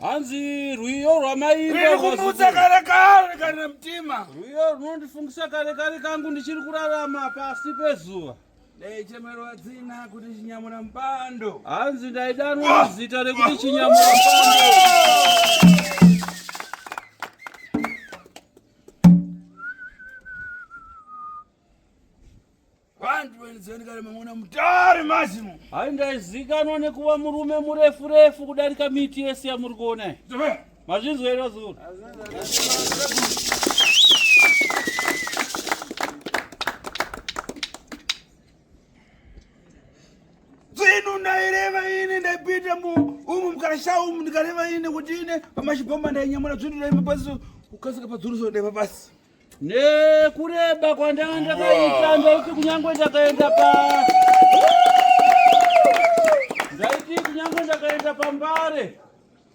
hanzi rwiyo rwamaikumutsa kare kare kana mtima rwiyo runondifungisa kare kare kangu ndichiri kurarama pasi pezuva ndaichemero adzina kuti chinyamura mupando hanzi ndaidanwa ah! zita rekuti chinyamura mupando Zvenikare mamuna mutari mazimo. Hayi ndaizikanwa nekuva murume murefu refu kudarika miti yese yamuri kuona. Mazvinzwa iro zuru. Zvino ndaireva ini ndaipinda mu umu mukasha umu ndikareva ini kuti ine pamashibhoma ndainyamura zvino ndaiva pasi kukasika padzuruso ndaiva pasi. Nekureba kwandanga ndakaita ndaiti kunyangwe ndakaenda pa ndaiti kunyangwe ndakaenda pambare.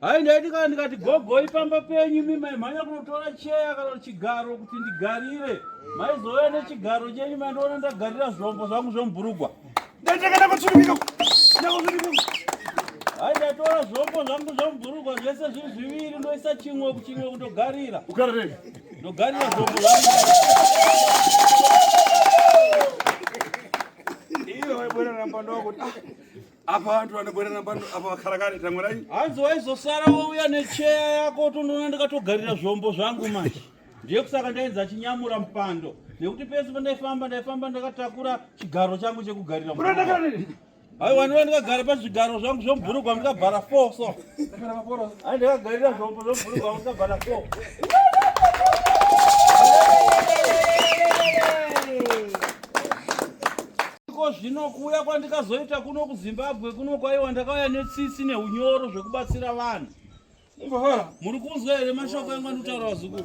Hai ndaiti kana ndikati gogoi pamba penyu mi maimhanya kunotora cheya kana chigaro kuti ndigarire maizouya nechigaro chenyu mandiona ndagarira zvombo zvangu zvomburugwa ndatakana kutsvirika hai ndatora zvombo zvangu zvomburugwa zvese zviri zviviri ndoisa chimwe kuchimwe kundogarira ukararei ndogarira zvombo zvangu iwe waibona ramba ndokuti ah, apa vantu vanogwerana pano apa vakarakare tangurai hanzi waizosara wouya necheya yako tondoona ndikatogarira zvombo zvangu manje ndiye kusaka ndainzi achinyamura mupando nekuti pese pandaifamba ndaifamba ndakatakura chigaro changu chekugarira aiwa ndiva ndikagara pazvigaro zvangu zvomubhurugwa ndikabhara four so ai ndikagarira zvombo zvomubhurugwa ndikabhara four Iko zvino kuuya kwandikazoita kuno kuZimbabwe kuno kwaiwa ndakauya netsitsi neunyoro zvekubatsira vanhu. Muri kunzwa here mashoko yangu andotaura vazukuru?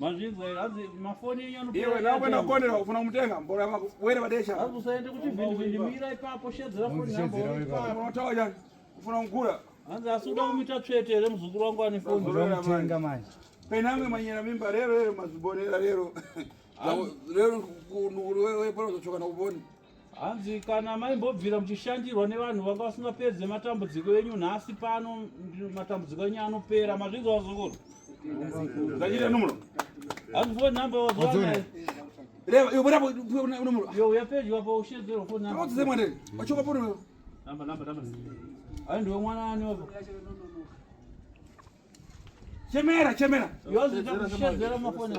Mazvinzwa hanzi mafoni enyu anopera. Iwe nawe nakonera ufuna kumutenga mbora mako. Were vadesha. Hanzi usaende kuchivhindi vhindi mira ipapo shedzera foni yako. Paya unotawa jani. Ufuna kugura. Hanzi asi uda kumita tsvete here muzukuru wangu ane foni. Unomutenga manje. Penamwe manyera mimba rero rero mazibonera rero. Rero wewe pano uzochoka na uboni. hanzi kana maimbobvira muchishandirwa nevanhu vanga vasingapedze matambudziko enyu nhasi pano matambudziko enyu anopera mazvinzi wazukuru zachita numuro hanzi fo number wazoanayo uyapedyo apa ushedzerwa fo ai ndiwe mwana ani wapo chemera chemera yoziita kushedzera mafoni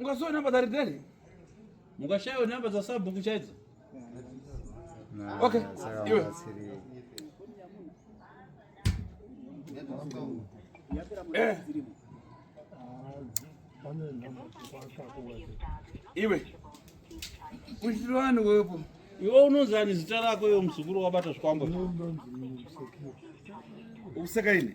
Mukashayo namba dzari deli? Mukashayo namba dza sabhuku chaidzo? Okay. Iwe. Eh. Iwe. Uchitira vanhu wepo. Iwe unonzi ani zita rako iwe muzukuru wabata zvikwambo. Useka ini.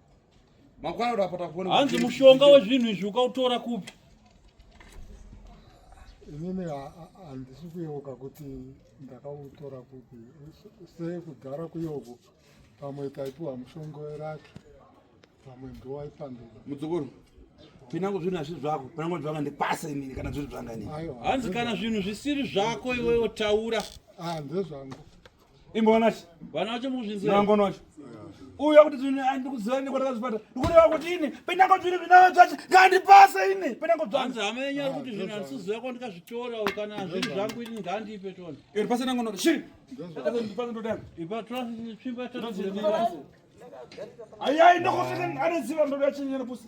Makwana uri apota kuona. Hanzi mushonga wezvinhu izvi ukautora kupi? Inini handisi kuyeuka kuti ndakautora kupi. Sekugara kuyeuku pamwe taipiwa mushonga weraki pamwe ndowaipanduka. Mudzukuru pinango zvinhu hazviri zvako pinango zvanga ndipasa inini kana zviri zvanga inini hanzi kana zvinhu zvisiri zvako iwewe taura ah ndezvangu imbonacho vanacho muzvinziangonacho uya kuti ndikuziva ine kwatakazvipata ndikureva kuti ini pendango zviri zvinavo zvacho ngandipase ini pendango zvanzi hama yenyu ari kuti zvinhu handisiziva ko ndikazvitora kana zviri zvangu ini ngandipe tona iri pasi ndango noti shiri ndipase ndodana ipa twasimba tataziremaaiyai ndokusvika anoziva ndoda chinyere pusi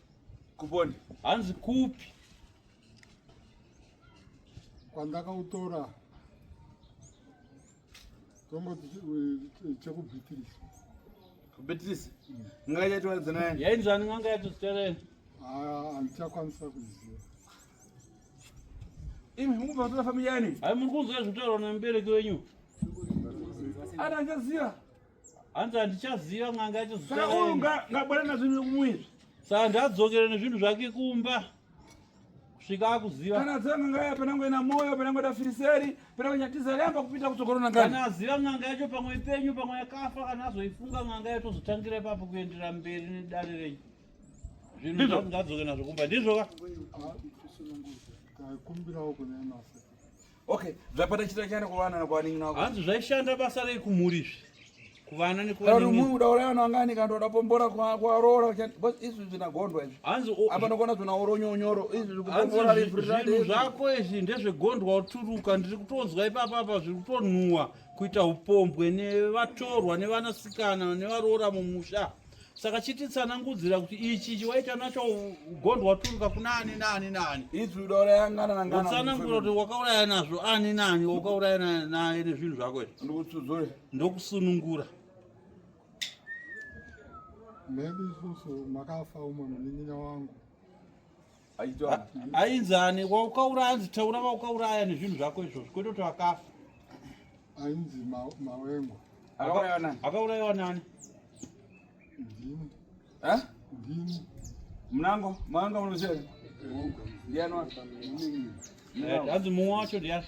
Kuponi. Hanzi kupi? Kwandakautora tomboti chekubhitirisa. Kubhitirisa? Mm. N'anga yaitoratidza naye? Yainzwani n'anga yatozitaura yena? Ah, handichakwanisa kuziva. Imi mukubva kutora family yani? Hayi muri kunzwa zvitaurwa nemubereki wenyu? Ana angaziva. hanzi handichaziva n'anga yacho saka uyu ngabwana nazvo nekumuya izvi saka ndiadzokere nezvinhu zvake kumba kusvika akuziva kana aziva n'anga yacho panango ina moyo panango da firiseri panango nyatiza yamba kupinda kutsokorona ngani kana aziva n'anga yacho pamwe ipenyu pamwe yakafa kana azoifunga n'anga yacho tozotangira ipapo kuenderera mberi nedare renyu zvinhu ngadzoke nazvo kumba ndizvo ka kumbirawo kune masa Okay, zvapata chita chana kuvana na kwaningi nako. Hanzi zvaishanda basa rei kumhuri izvi. Kuvana ni kwaningi. Kari munhu udaura yana ngani kanto udapombora kwa kwa rora chani. Bas izvi zvina gondwa izvi. Hanzi o. Apa nokona zvina oro nyonyoro. Izvi zvikupombora ri free. Zvako izvi ndezve gondwa uturuka ndiri kutonzwa ipapa apa zviri kutonhuwa kuita upombwe ne vatorwa ne vanasikana ne varora mumusha. saka chititsanangudzira kuti ichi chiwaita nacho ugondo waturuka kuna ani naani naani utsanangura kuti wakauraya nazvo ani naani wakauraya naye nezvinhu zvako izvi ndokusunungura maybe isusu makafa umwe munin'ina wangu ainzani waukaura anzi taura vaukauraya nezvinhu zvako izvozvo kwete kuti vakafa ainzi mawengwa akaurayiwa nani mnango mawengwa munoziva ndiani hanzi mumwe wacho ndiani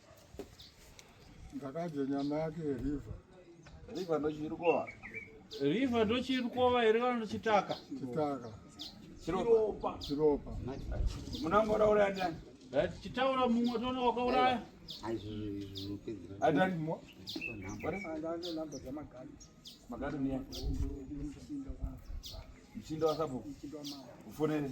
Ndakadya nyama yake river. River ndochirikova. River ndochirikova here kana chitaka? Chitaka. Chiropa. Chiropa. Munangoraura ndani? Chitaura mumwe tono wakauraya. Adani mwa. Magari ni yako. Mshindo wa sabu. Mshindo wa mawe. Ufonele.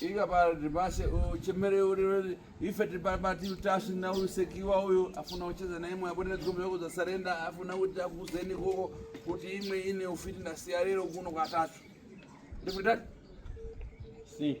Ika pa ribase o chemere o ribase ife tipa bati utashi na u sekiwa uyo afuna ucheza na imwe abone dziko mwe kuza surrender afuna kuti akuzeni koko kuti imwe ine ufiti na siarero kuno kwa tatu. Ndipo tatu. Si.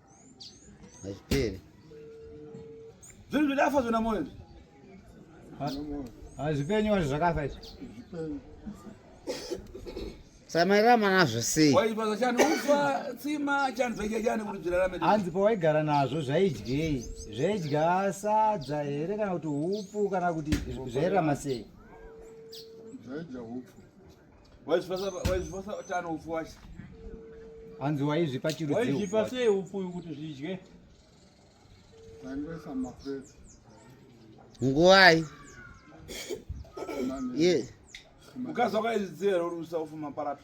Hazvipere. Zvinhu zvidafa zvona moyo. Hazvipenyu wazvo zvakafa izvi. Hazvipenyu. samairama nazvo sei waipaza chani ufa tsima chani zvaidya chani kuti zvirarame hanzi pawaigara nazvo zvaidyei zvaidya sadza here kana kuti upu kana kuti zvairama sei zvaidya upu waizvipasa tano upfu wacho hanzi waizvipa chirudziwaizvipa sei upfu uyu kuti zvidye tangesa mafesi nguvai ye ukazwa kwaizidzira uri usaufu maparato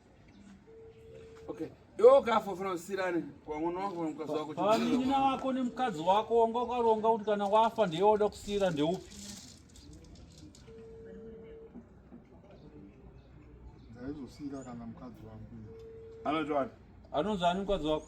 Okay. Iwe ukafa ufana usirane kwa mwana wako nemukadzi wako. Pamina wako nemukadzi wako wanga ukaronga kuti kana wafa ndiye woda kusira ndeupi? Ndaizosira kana mukadzi wangu. Anozvani? Anozvani mukadzi wako?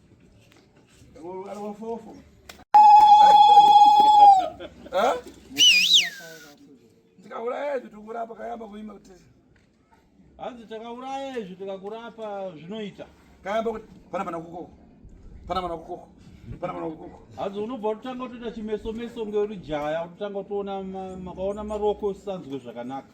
tikauraya izvi tikurapa kayamba kuima kuti hanzi takauraya izvi tikakurapa zvinoita kayamba kuti pana mana kukoko pana mana kukoko pana mana kukoko hanzi unobva utotanga kutoita chimeso meso ngeuri jaya utotanga kutoona makaona maroko usisanzwe zvakanaka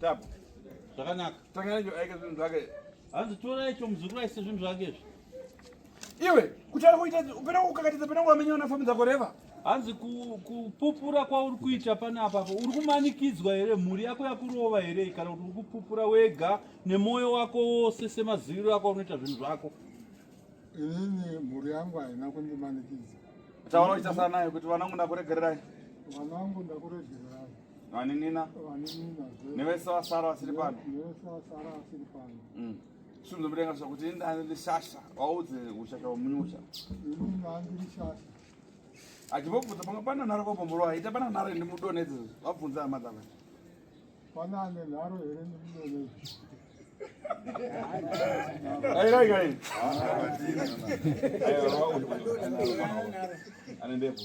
Tabu. Zvakanaka. Tangana njo aika zvinhu zvake. Hanzi tora icho muzukuru aise zvinhu zvake izvi. Iwe kutara kuita upera kukakatiza pena wamenya na famu dzako reva. Hanzi kupupura ku kwauri kuita pana apa apo uri kumanikidzwa here mhuri yako yakurova here kana kuti uri kupupura wega nemoyo wako wose semaziviro ako unoita zvinhu zvako. Inini mhuri yangu haina kundimanikidza. Taona kuita sana nayo kuti vanangu ndakuregererai. Vanangu ndakuregererai. vaninina nevese vasara vasiri pano svinhu zvomudenga zva kuti ini ndani ndishasha waudze ushasha womunyusha achibvobvunza pamwe pana nharo kombomborwa aita pana nharo ende mudonedze vabvunza hama dzava pana ane nharo here ndimudonedze airaigaii ane ndebvu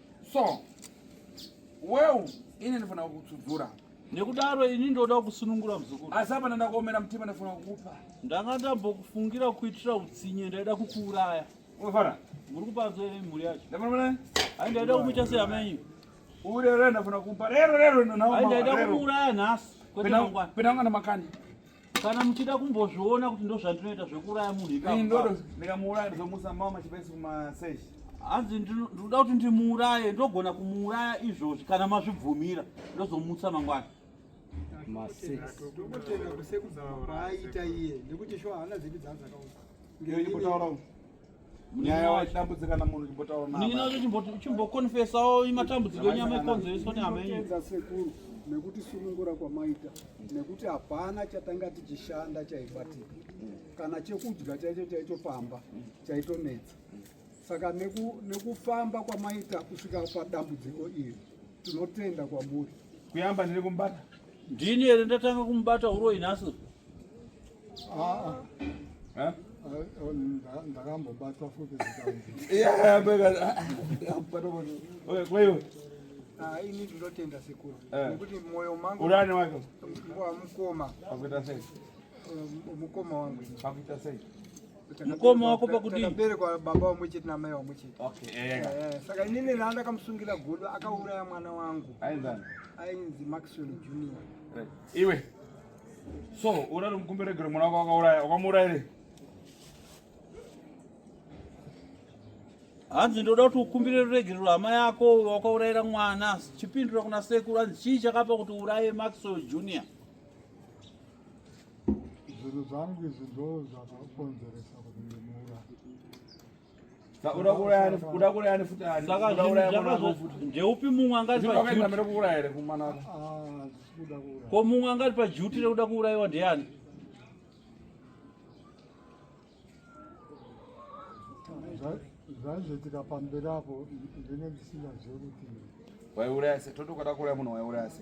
so well ini ndifana kutsudzura nekudaro ini ndoda kusunungura muzukuru asi apana ndakaomera mutima ndafana kukupa ndanga ndambokufungira kuitira utsinye ndaida kukuuraya unofara muri kupanzwa ine mhuri yacho ndafana hai ndaida kumuita seyamenyu urerendafana kupa rero rero ndaida kuuraya nhasi kwete mangwana pena mwana makani kana muchida kumbozviona kuti ndozvandinoita zvekuuraya munhu ikandikamuuraya ndizomusa mama machipaisi kumasesh hanzi ndinoda kuti ndimuuraye ndogona kumuuraya izvozvi kana mazvibvumira ndozomutsa mangwana maseaita iye nekuti sho haana zipi dzaanzakaudza nyaya waidambudzika namunhu chimbotaura nanininacho chimbokonfesawo matambudziko enyama ikonzereswa nehama yenyu sekuru nekuti sunungura kwamaita nekuti hapana chatanga tichishanda chaibatika kana chekudya chaicho chaicho pamba chaitonetsa saka nekufamba neku kwamaita kusvika padambudziko iri tinotenda kwamuri kuyamba ndiri kumubata ndini here ndatanga kumubata uroyi nhasi ndakambobatwa futi ini ndinotenda sekuru eh. nekuti mwoyo mangu urani wako mukoma akuita sei eh, mukoma wangu akuita sei mukoma wako pakudii takaberekwa baba wamwe chete namai wamwe chete eh, eh, saka inini raa ndakamusungira godo akauraya mwana wangu ainzi maxwell junior iwe so urari mukumberegere mwana wako wakauraya wakamuuraya here hanzi ndoda kuti ukumbire ruregerero hama yako wakaurayira mwana chipindura kuna sekuru hanzi chii chakapa kuti uraye maxwell junior zvinhu zvangu izvi ndo zvakakonzeresa kuti ndimuuraye ndeupi mumwe angati ko mumwe angati pajuti rekuda kuurayiwa ndeyani zvaizoitika pamberi apo ndine ndisina zvekuti waiuraya se totokada kuuraya munhu waiuraya se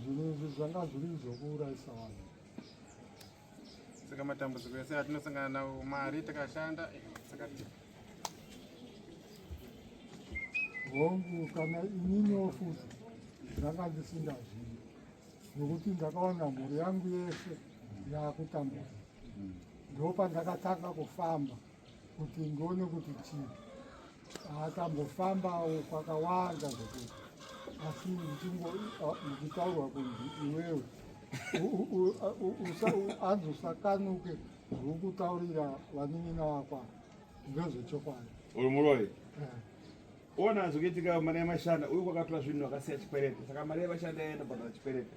zvinhu izvi zvanga zviri zvokuurayisa vanhu saka matambudziko ese atinosangana nawo mari takashanda eh, saka hongu kana ininiwo futi ndanga ndisingazivi nokuti ndakaona mhuri yangu yese yakutambudzika ndo pandakatanga kufamba kuti ndione kuti chii akambofambawo kwakawanda kuti asi ndichitaurwa kunzi iwewe anzi usakanuke zvokutaurira vanin'ina vakwa ndezvechokwadi uyu muroyi eh. ona zvokuitika mari yamashanda uyu kwakatora zvinhu akasiya chikwerete saka mari yamashanda yaenda kubhadhara chikwerete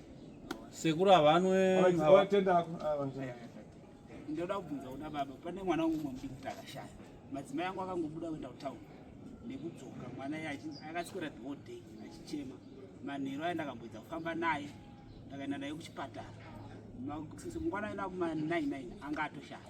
Sekuru avanwe tenda ako. Ndoda kubvunza kuda baba pane mwana umwe mudiki kuti akashaya. Madzimai angu akangobuda kuenda kutown nekudzoka mwana iye akaswera the whole day achichema. Manheru aye ndakamboedza kufamba naye ndakaenda naye kuchipatara. Mangwana aenda kuma 99 anga atoshaya.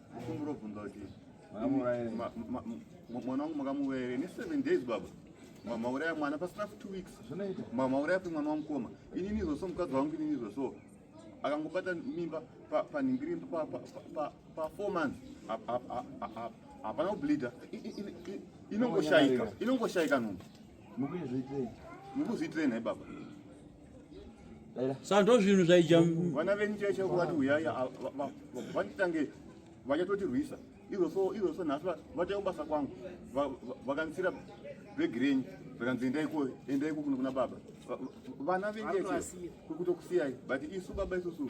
Mukumbiro bvunza kuti mwana wangu makamuuraya ne seven days baba mauraya mwana pasina for two weeks mauraya pe mwana wamukoma inini zoso mukadzi wangu inini zoso akangobata mimba panhingiri pa four months hapana kubleeda inongoshaika inongoshaika nhumbu mukuzviitirei mukuzviitirei nhai baba sando zvinhu zvaija vana venyu chaisha kuvati uyai vanditange vachatotirwisa iroso iroso nhasi vatae kubasa kwangu vakandisira bhegi renyu vakanzi endaiko endaiko kuno kuna baba vana venyu kutokusiyai but isu baba isusu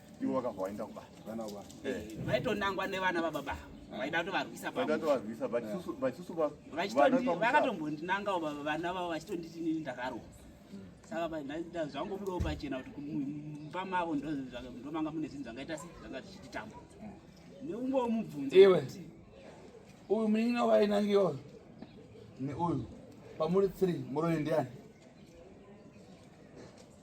ivo vakabva vaenda kubasa vaitonangwa nevana vababa vaida kutovarwisa pavaitovarwisa vachisusu vakatombondinangawo vana vavo vachitonditi nini ndakaroa saka zvangobudawo pachena kuti mumba mavo ndomanga mune zvinhu zvangaita sei zvanga zvichititamba neumwewo mubvunzo iwe uyu munin'ina wainangiwa neuyu pamuri three muroyi ndiani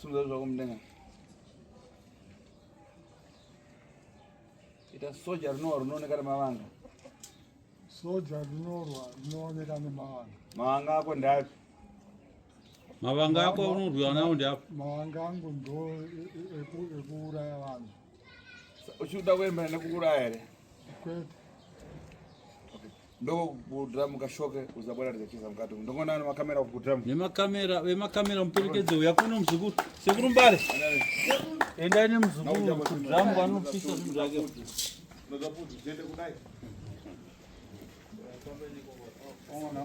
Sunza zvako mudenga. Ita soja rinowa rinooneka nemavanga. Soja rinorwa rinooneka nemavanga. Mavanga ako ndapi? Mavanga ako unorwiwa nawo ndapi? Mavanga angu ndo ekuuraya vanhu. Uchida kuenda nekuuraya here? Kwete. ndokudram kashoke uzabona tizachiza mukati ndongoona ana makamera kudram nemakamera vemakamera muperekedze uya kuno muzukuru sekuru mbare endai nemuzukuru kudram vanopisa zvinhu zvake Ona,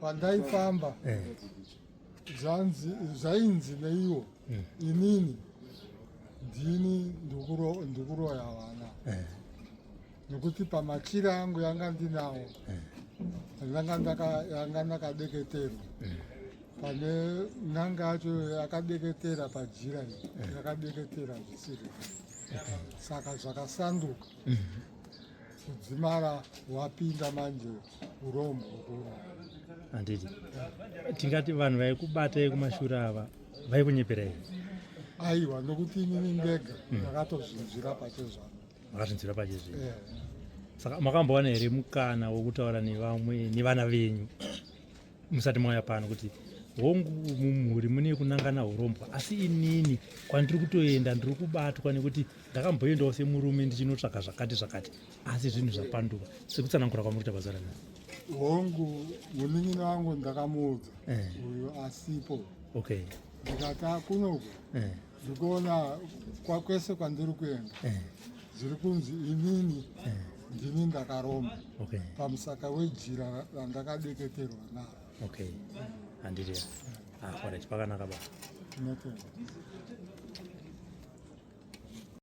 pandaifamba eh. zvanzi zvainzi neiwo eh. inini ndini ndikuroya vana eh. nekuti pamachira angu yanga ndinawo yanga ndakadeketerwa pane n'anga yacho yakadeketera pajira eh. yakadeketera zvisiri saka zvakasanduka mhm. kudzimara wapinda manje urombo handiti tingati vanhu vaikubata yekumashure ava vaikunyepera here aiwa nokuti inini ndega mhm. ndakatozvinzwira pachezvano makazvinzwira pachezvino eh. saka makambowana here mukana wokutaura nevamwe nevana venyu musati mauya pano kuti hongu mumhuri mune kunangana hurombwa asi inini kwandiri kutoenda ndiri kubatwa nekuti ndakamboendawo semurume ndichinotsvaga zvakati zvakati asi zvinhu zvapanduka sekutsanangura kwamuri kuita bazara na hongu munin'ini wangu ndakamuudza eh. uyo asipo okay ndikati akunoku eh. Ndikuona kwakwese kwandiri kuenda eh. zviri kunzi inini eh. ndini ndakaromba okay. pamusaka wejira randakadeketerwa naro okay. handiri ah, pakanaka ba